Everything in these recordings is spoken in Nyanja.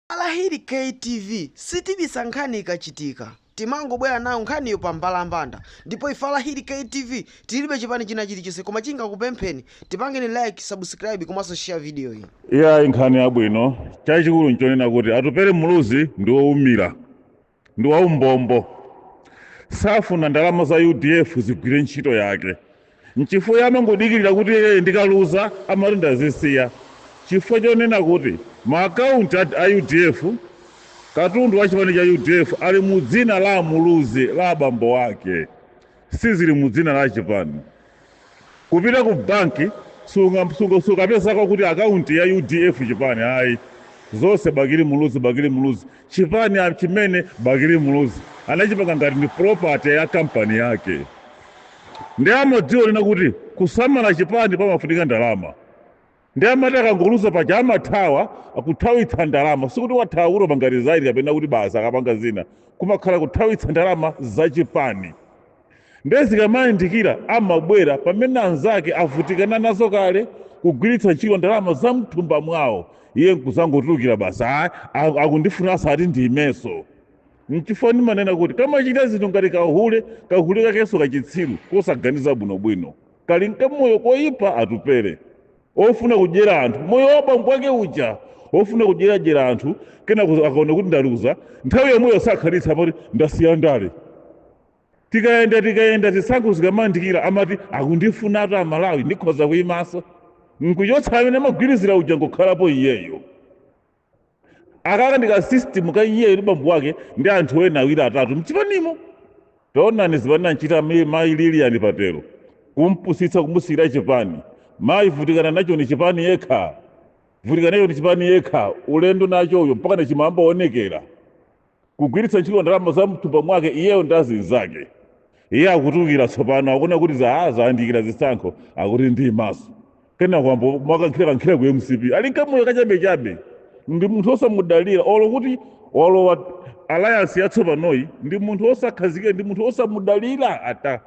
Alahili K TV sitibisa nkhani ikachitika timangobwera nayo nkhaniyo pa mbalambanda ndipo ife Alahili K TV tilibe chipani china chilichonse koma chingakupempheni tipangeni like, subscribe komanso share video iyi. Iya ayi nkhani yabwino chachikulu nchonena kuti Atupele Muluzi ndi woumira ndi waumbombo safuna ndalama za udf zigwire ntchito yake nchifukwa iye amangodikirira kuti iye ndikaluza amati ndazisiya chifukwa chonena kuti maakaunti a a udf katundu wa chipani cha udf ali mu dzina la amuluzi la abambo ake sizili mu dzina la chipani Kupita ku bank sunga sukapezako kuti account ya udf chipani ayi zonse bakili muluzi bakili muluzi chipani a- chimene bakili muluzi anachipanga ngati ndi property ya kampani yake ndi amadziwa kunena kuti kusamala chipani pamafunika ndalama Ndiye amati akangoluza paja amathawa kuthawitsa ndalama. Sikuti wathawa kuti wapanga resign kapena kuti basi akapanga zina. Kumakhala kuthawitsa ndalama zachipani. Ndiye zikamayandikira amabwera pamene anzake avutikana nazo kale kugwiritsa ntchito ndalama za mthumba mwawo. Iye nkuzangotulukira basi, "Ah, a- akundifuna akuti ndiimenso. Nchifukwa ndimanena kuti kamachita zinthu ngati kahule, kahule kakenso kachitsiru kosaganiza bwinobwino. kali nkamoyo koyipa Atupele ofuna kudyera anthu moyo wa bambo wake uja ofuna kudyeradyera anthu kenako akaona kuti ndaluza nthawi yomweyo sakhalitsa amati ndasiya ndale tikayenda tikayenda zisankho zikamandikira amati akundifunatu amalawi ndikhoza kuyimaso nkuchotsa amene amagwirizira uja nkukhalapo iyeyo aka kandi ka system ka iyeyo ndi bambo wake ndi anthu ena awiri atatu mchipanimo taonani zimene anachita mayi Lilian Patel kumpusitsa kumusiyira chipani mayi vutikana nacho ni chipani yekha vutikana nacho ni chipani yekha ulendo nacho uyo mpaka nachiyamba kuonekera kugwiritsa ntchito ndalama za mthumba mwake iyeyo ndi azinzake iye akutulukira tsopano akuona kuti za zayandikira zisankho akuti ndiimanso pena kuyamba mwakankhira kankhira ku mcp ali nkamoyo kachabechabe ndi munthu osamudalira olo kuti walowa alliance yatsopanoyi ndi munthu osakhazikika ndi munthu osamudalira ata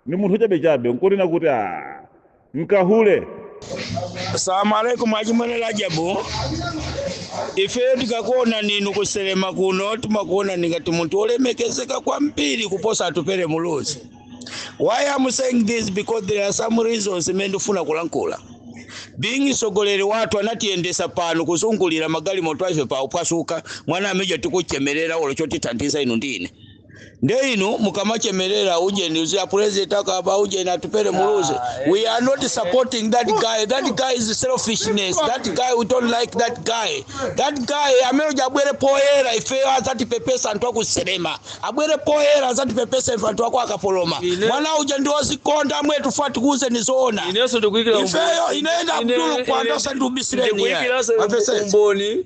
ndi munthu chabechabe nkunena kuti nkahule salamu alaikum achimwene Rajabu ifeyo tikakuonani inu kuselema kuno timakuona ngati munthu olemekezeka kwambiri kuposa Atupele muluzi why I'm saying this because there are some reasons imene ndifuna kulankhula being sogoleri wathu anatiyendesa pano kuzungulira magalimoto afe pa uphwasuka mwana amija tikuchemerera olo chotithandiza inu ndine nde inu mukamachemerera ujeni uja apulezidenti akaba ujeni atupere muluzi we are not supporting that guy that guy is selfishness that guy we don't like that guy that guy amene uja abwere poyera ifeyo azatipepese anthu aku Tserema abwere poyera azatipepese ife anthu akwa Kapoloma Ine- mwana uja ndi ozikonda mwetufuna tikuuze ni zoona inenso ndikuyikira ifeyo ine ndi Abdulu kwanda usandibisireni ndikuyikiraso apesese umboni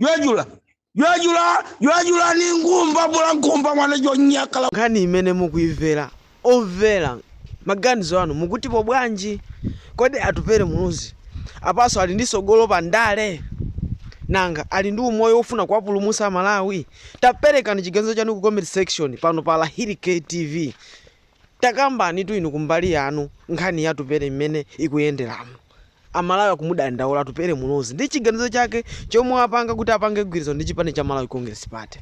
jwajula jwajula jwajula ni ngumba bula ngumba mwana jonyakala nkhani imene mukuimvera omvera, maganizo anu mukutipo bwanji kodi atupere muluzi apanso ali ndi sogolo pa ndale nanga ali ndi umoyo wofuna kuwapulumusa amalawi taperekani chiganizo chanu ku comment section pano pa lahiri ktv takambani tu inu kumbali yanu nkhani yatupere imene ikuyenderamo Amalawi akumudandaula Atupele Muluzi ndi chiganizo chake chomwe apanga kuti apange mgwirizano ndi chipani cha Malawi Congress Party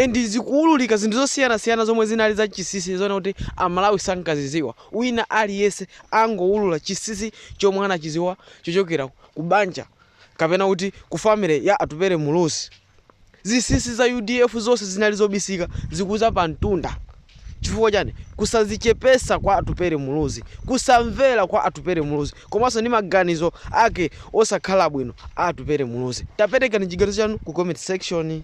and zikuululika zinthu zosiyanasiyana zomwe zinali za chisisi zoona kuti Amalawi sankaziziwa wina aliyese angoulula chisisi chomwe anachiziwa chochokera ku banja kapena kuti ku family ya Atupele Muluzi. Zisisi za udf zonse zinali zobisika zikuza pa mtunda chifukwa chani? Kusazichepesa kwa Atupere Muluzi, kusamvera kwa Atupere Muluzi komanso ndi maganizo ake osakhala bwino a Atupere Muluzi. Taperekani chiganizo chanu ku comment section.